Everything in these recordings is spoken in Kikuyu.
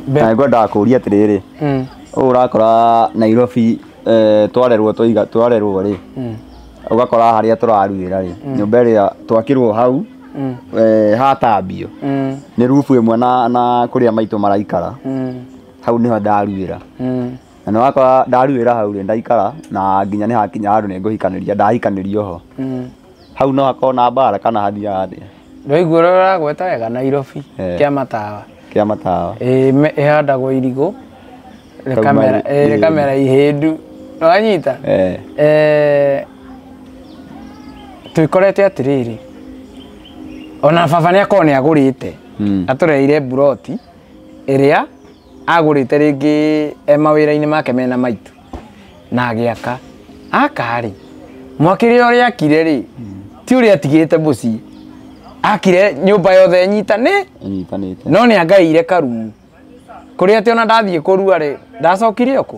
Be- na ngwendaga kũria atĩrĩrĩ Mm. ũũ ũrakora nairobi eh, twarerwo tũiga twarerwo rĩ Mm. ũgakora harĩa tũraruĩra rĩ nyũmba ĩrĩa twakirwo hau Mm. eh, hatambio Mm. nĩ rubu ĩmwe na, na kũrĩa maitũ maraikara Mm. hau nĩho ndaruĩra Mm. na nĩ wakora ndaruĩra hau rĩ ndaikara na nginya nĩ hakinya handũ nĩ ngũhikanĩria ndahikanĩria oho Mm. hau no hakorwo na mbara kana hathiaga atĩa Ndwaigua ũrĩa ũragweta wega Nairobi Eh. kĩa matawa kĩa matawa Ĩĩ, me- ĩhandagwo irigũ Kauma rĩkamera ri- ĩĩ, ĩĩ. rĩkamera ihĩndu wanyita Eh, Eh, twĩkorete atĩrĩrĩ ona baba nĩ akorwo nĩ agũrĩte mm. atũreire mburoti ĩrĩa agũrĩte rĩngĩ e mawĩra-inĩ make mena maitũ na agĩaka akarĩ mwakĩrĩ ũrĩa akire rĩ ti ũrĩa atigĩte mũciĩ akire nyũmba yothe nyitane inyitanĩte no nĩ angaĩire karumu kũrĩa atĩ ona ndathiĩ kũrua rĩ ndacokire ũkũ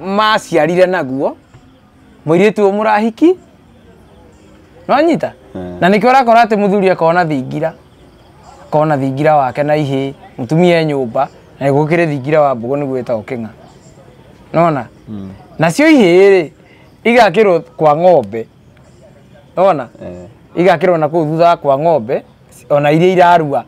maciarire naguo mũirĩtu ũyũ mũrahiki nonyita na nĩkĩo ũrakora atĩ mũthuri akona thingira akona thingira wake na ihĩ mũtumia e nyũmba na gũkĩrĩ thingira wa mbogo nĩguo ĩtagwo kĩng'a nona nacio ihĩ rĩ igakĩrwo kwa ng'ombe ona igakĩrwo na kũu thutha wa kwa ng'ombe ona iria irarua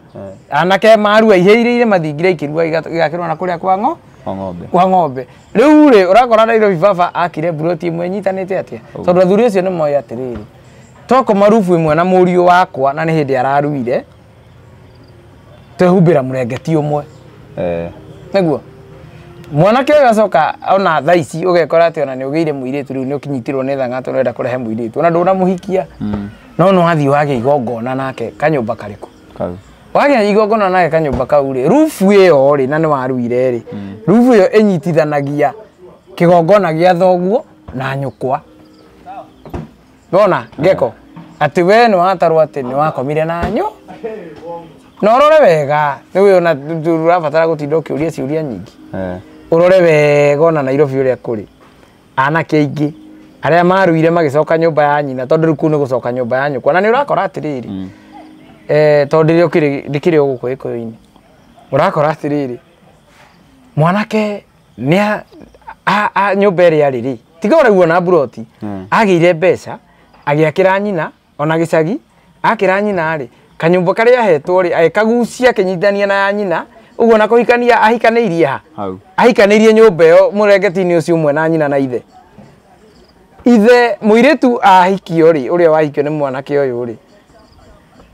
anake marua ihĩa iria irĩ mathingira ikĩrua iga- igakĩrwo na kũrĩa kwa ng'o Kwa ng'ombe. kwa ng'ombe rĩu rĩ ũrakora Nairobi baba akire mburoti ĩmwe ĩnyitanĩte atĩa tondũ athuri acio nĩ moĩ atĩrĩrĩ toko marubu ĩmwe na mũriũ wakwa na nĩ hĩndĩ araruire twehumbĩra mũrengeti ũmwe eh. nĩguo mwanake ũyũ acoka ona thaa ici ũgekora atĩ ona nĩ ũgĩire mũirĩtu rĩu nĩ ũkinyitirwo nĩ thang'atũ nĩwenda kũrehe mũirĩtu ona ndũnamũhikia mm. no nĩ wathiĩ wagĩa igongona nake kanyũmba karĩkũ wagĩa igongona nake kanyũmba kau rĩ rubu ĩyo rĩ na nĩ waruire rĩ mm. rubu ĩyo ĩnyitithanagia kĩgongona gĩa thoguo na nyũkwa bona geko ati we nwatarwo ati niwakomire nanyu na orore wega niwe ona turabatara gutinda ukiuria ciuria nyingi Eh. urore wega ona nairobi uria kuri anake aingi aria maruire magicoka nyumba ya nyina tondu riu kuu ni gucoka nyumba ya nyukwa na ni urakora atiriri eh, tondu ri ukiri ndikiri uguku gikuyu-ini urakora atiriri mwanake nĩa a- a- nyũmba ĩrĩa arĩ rĩ tiga ũraguo na mburoti Mm. agĩire mbeca agĩakĩra nyina ona gĩcagi akĩra nyina rĩ kanyũmba karĩa ahetwo rĩ agĩkagucia akĩnyitithania na ya nyina ũguo na kũhikania ahikanĩirie ha hau ahikanĩirie nyũmba ĩyo mũrengetinĩ ũcio ũmwe na nyina na ithe ithe mũirĩtu ahikio rĩ ũrĩa wahikio nĩ mwanake ũyũ rĩ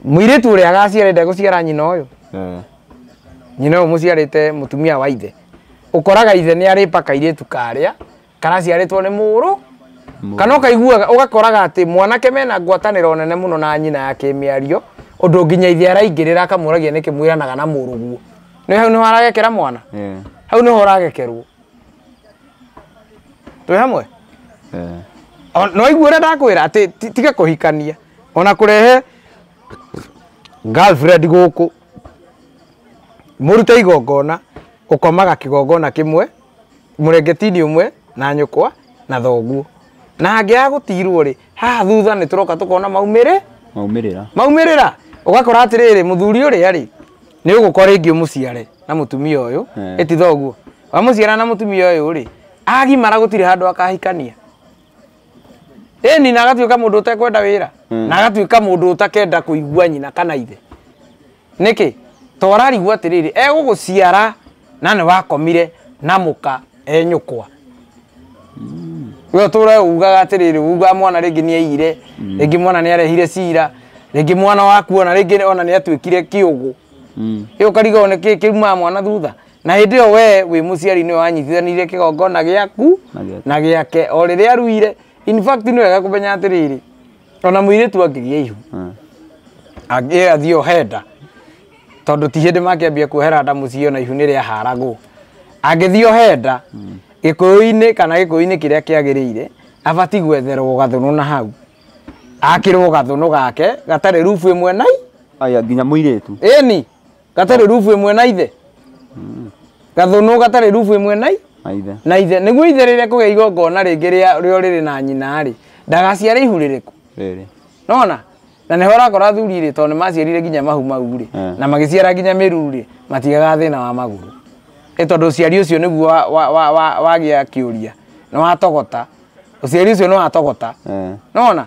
mũirĩtu ũrĩa agaciara ndegũciara nyina ũyũ Eh. nyina ũyũ mũciarĩte mũtumia wa ithe ũkoraga ithe nĩ arĩpa kairĩtu karĩa karaciarĩtwo nĩ mũrũ kana ũkaiguaga ũgakoraga atĩ mwanake mena ngwatanĩro nene mũno na nyina ya kĩmĩario ũndũ nginya ithe araingĩrĩra akamũragia nĩkĩ mwĩranaga na mũrũguo nĩ hau nĩho aragekera mwana Eh, hau nĩho ũragekerwo twĩ hamwe eh. O- na waigua ũrĩa ndakwĩra atĩ ti- tiga kũhikania ona kũrehe girlfriend gũkũ mũrute igongona ũkomaga kĩgongona kĩmwe mũrengetini ũmwe na nyũkwa na thoguo na angĩaga gũtirwo rĩ haha thutha nĩ tũroka tũkona maumĩrĩ maumĩrĩra maumĩrĩra ũgakora atĩrĩrĩ mũthuri ũrĩa rĩ nĩ ũgũkora rĩngĩ ũmũciare na mũtumia ũyũ Eh. ĩti thoguo wamũciara na mũtumia ũyũ rĩ agimara gũtirĩ handũ akahikania ĩni na agatuĩka mũndũ ũtekwenda wĩra na agatuĩka mũndũ ũtakenda kũigua nyina kana ithe nĩkĩ to ararigwo atĩrĩrĩ egũgũciara na nĩ wakomire na mũka e nyũkwa we ũtũre ugaga atĩrĩrĩ ugaga mwana rĩngĩ nĩ aiyire rĩngĩ mwana nĩ arehire cira rĩngĩ mwana waku ona rĩngĩ ona nĩ atuĩkire kĩũgũ ĩ ũkarigwo nĩ kĩ kĩrumaga mwana thutha na hĩndĩ ĩyo wee wĩ mũciari nĩwe wanyitithanirie kĩgongona gĩaku Na gĩake. na gĩake o rĩrĩa aruire in fact nĩ wega kũmenya atĩrĩrĩ ona mũirĩtu angĩgĩa ihu Mm. angĩ athiĩ ohenda tondũ ti hĩndĩ makĩambia kuohera nda mũciĩ ona ihu nĩ rĩaharagwo angĩthiĩ ohenda gĩkũyũ-inĩ kana gĩkũyũ-inĩ kĩrĩa kĩagĩrĩire abati gwetherwo gathũnũ na hau akĩrwo gathũnũ gake gatarĩ rubu ĩmwe nai Aya nginya mũirĩtu. ĩni gatarĩ rubu ĩmwe na ithe mm. gathũnũ gatarĩ rubu ĩmwe na na ithe nĩguo ithe rĩrĩa kũgĩa igongona rĩngĩ rĩo rĩrĩ na nyina-rĩ ndagaciare ihu rĩrĩkũ nona na nĩho ũrakora athuri rĩ tondũ nĩmaciarire nginya mahu mau rĩ eh. na magĩciara nginya mĩru rĩ matigaga thĩna wa magũrũ ĩ tondũ ũciari ũcio nĩguo wagĩa kĩũria nĩwatogota ũciari ũcio nĩwatogota eh. nona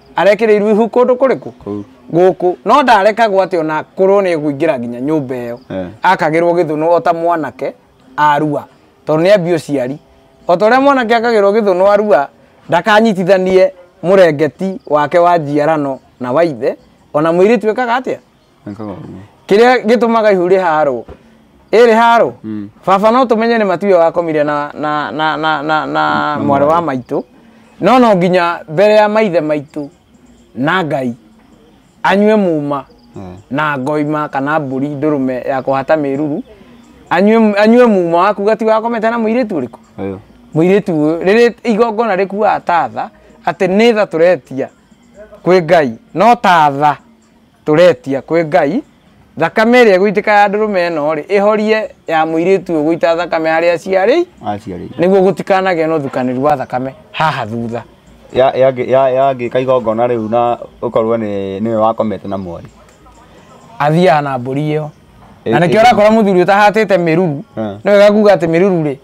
arekĩrĩirwo ihu kũndũ kũrĩkũ Kũu. gũkũ no ndarekagwo atĩ ona korwo nĩ ekũingĩra nginya nyũmba ĩyo Eh. akagĩrwo gĩthũnũ o ta mwanake arua tondũ nĩ ambia ũciari o ta ũrĩa mwanake akagĩrwo gĩthũnũ arua ndakanyitithanie mũrengeti wake wa njiarano na wa ithe ona mũirĩtu ekaga atĩa Ekaga ũguo. kĩrĩa gĩtũmaga ihu rĩharwo ĩ rĩharwo Mm. baba no tũmenye nĩ matuya wakomire na na na na na, na mwarĩ wa maitũ no no nginya mbere ya maithe maitũ na ngai anyue muma Eh. na ngoima kana mbũri ndũrũme ya kũhata mĩruru anyue anyue muma wa kuga ti wakomete na mũirĩtu ũrĩkũ Ũyũ. mũirĩtu ũyũ rĩrĩ igongona rĩkuaga tatha atĩ nĩ tha tũretia kwĩ ngai no tatha tũretia kwĩ ngai thakame ĩrĩa ĩgũitĩka ya ndũrũme ĩno rĩ ĩhorie ya mũirĩtu ũyũ gũita thakame harĩa aciarĩ aciarĩire nĩguo gũtikanagĩa na ũthukanĩru wa thakame haha thutha Ya- ya- ya- yagĩka igongona rĩu na ũkorwo nĩ- nĩwe wakomete na mwarĩ athiaga na mbũri ĩyo Ĩ- na nĩkĩo ĩ- ũrakora mũthuri ũtahatĩte mĩruru Eh. nĩ wega kuga atĩ mĩruru rĩ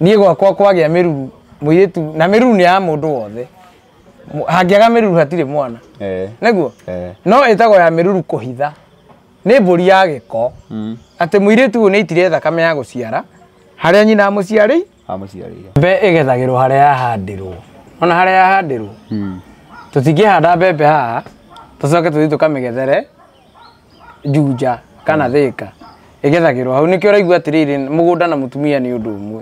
niĩ gwakwa kwagĩa mĩruru mũirĩtu na mĩruru nĩ ya mũndũ wothe Mu- hangĩaga mĩruru hatirĩ mwana Eh. nĩguo Eh. no ĩtagwo ya mĩruru kũhitha nĩ mbũri ya gĩko Mm. atĩ mũirĩtu ũyũ nĩ itire thakame ya gũciara harĩa nyina amũciarĩ Amũciarĩire. mbe ĩgethagĩrwo harĩa yahandirwo ona harĩa yahandirwo Mm. tũtingĩhanda mbembe haha tũcoke tũthiĩ tũkamĩgethere njunja kana thĩka ĩgethagĩrwo hau nĩkĩo ũraigua atĩrĩrĩ mũgũnda na mũtumia nĩ ũndũ ũmwe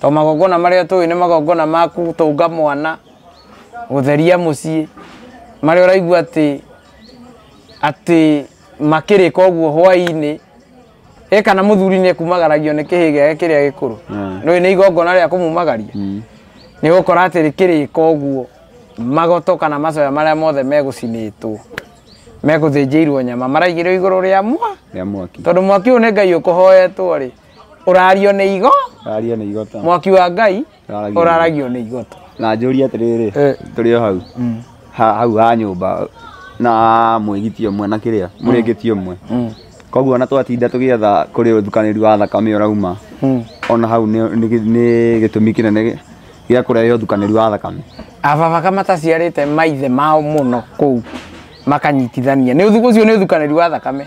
To magongona marĩa tũĩ nĩ magongona ma gũtũnga mwana, gũtheria mũciĩ, marĩa ũraigua atĩ atĩ makĩrĩka ũguo hwaĩ-inĩ, ĩ kana mũthuri nĩ ekumagaragio nĩ kĩhĩĩ gĩake kĩrĩa gĩkũrũ, nĩũĩ nĩ igongona rĩa kũmumagaria, nĩ ũgũkora atĩ rĩkĩrĩka ũguo, magoto kana macoya marĩa mothe megũcinĩtwo, megũthĩnjĩirwo nyama maraigĩrĩrwo igũrũ rĩa mwa, rĩa mwaki. tondũ mwaki ũyũ nĩ Ngai ũkũhoetwo-rĩ. ũrario nĩ igo Raria nĩ igota. mwaki wa ngai Ũraragio. ũraragio nĩ igoto Na njũria atĩrĩrĩ, Eh. tũrĩ o hau. Ha- Hau ha nyũmba na mwĩgiti ũmwe na kĩrĩa, mũrĩngĩti ũmwe. Koguo ona twatinda tũgĩetha kũrĩ ũthukanĩri wa thakame ũrauma. Ona hau nĩ nĩ gĩ- nĩ gĩtũmi kĩnene gĩ- gĩa kũrehe ũthukanĩri wa thakame. ababa kama taciarĩte maithe mao mũno kũu makanyitithania nĩ ũthuku ũcio nĩ ũthukanĩri wa thakame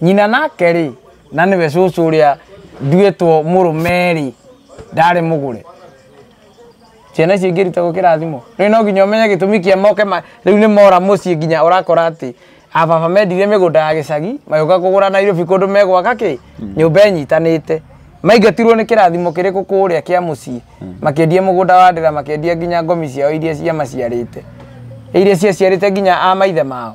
nyina nake rĩ na nĩwe cũcũ ũrĩa nduĩtwo mũrũme rĩ ndarĩ mũgũre ciana icio ingĩruta gũkĩra thimũ rĩu no nginya ũmenye gĩtũmi kĩa moke ma- rĩu nĩ mora mũciĩ nginya ũrakora atĩ ababa mendire mĩgũnda ya gĩcagi magĩũka kũgũra nairobi kũndũ megwaka kĩ nyũmba ĩnyitanĩte maingatirwo nĩ kĩrathimo kĩrĩkũ kũrĩa kĩa mũciĩ makĩendie mũgũnda wa ndĩra makĩendia nginya ngomi ciao iria ciamaciarĩte iria ciaciarĩte nginya a maithe mao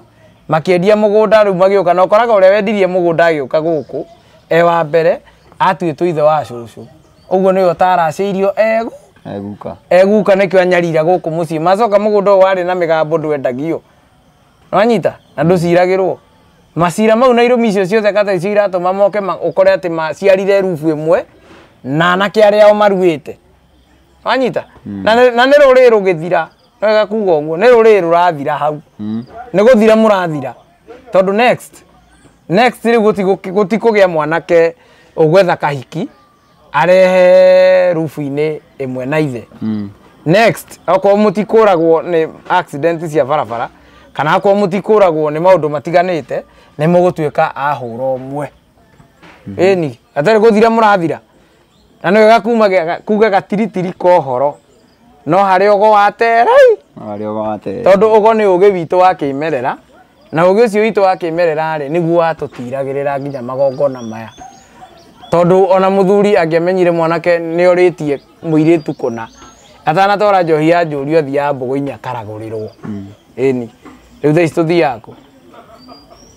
makĩendia mũgũnda rĩu magĩũka na ũkoraga ũrĩa wendirie mũgũnda agĩũka gũkũ e wa mbere atuĩtwo ithe wa cũcũ ũguo nĩwe ũtaracĩirio egu eguka eguka nĩkĩo anyarira gũkũ mũciĩ macoka mũgũnda ũyũ warĩ na mĩgambo ndwendagio wanyita na ndũciragĩrwo macira mau na irũmi icio ciothe kata icio iratũma moke ma- ũkore atĩ maciarire rubu ĩmwe na anake arĩa ao maruĩte wanyita na nĩ- na nĩ rũrĩrĩ rũgĩthira wega kuga ũguo nĩ rũrĩrĩ rũrathira hau mm. nĩ gũthira mũrathira tondũ next next rĩu gũti- gũtikũgĩa mwanake ũgwetha kahiki arehe rubu-inĩ ĩmwe na ithe Mm. next okorwo mũtikũragwo nĩ accident cia barabara kana okorwo mũtikũragwo nĩ maũndũ matiganĩte nĩ mũgũtuĩka ahũra ũmwe ĩni atarĩ gũthira mũrathira Na nĩwe gakuma ge- kuga gatiritiri ka ũhoro no harĩ ũgo wa terei Arĩa wate. tondũ ũgo nĩ ũgĩ witũ wa kĩmerera na ũgĩ ũcio witũ wa kĩmerera rĩ nĩguo watũtiragĩrĩra nginya magongona maya tondũ ona mũthuri angĩamenyire mwanake nĩ orĩtie mũirĩtu kũna atanatwara njohi ya njũri athiaga mbũgũ-inĩ akaragũrĩrwo ĩni rĩu thaa ici tũthiaga kũ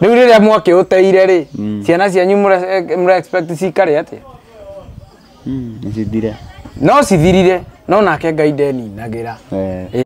rĩu rĩrĩa mwake ũteire rĩ Mm. ciana cianyu mũre- mũre expect cikare atĩa Mm, nĩcithire no cithirire no nake ngai ndeninagĩra Eh.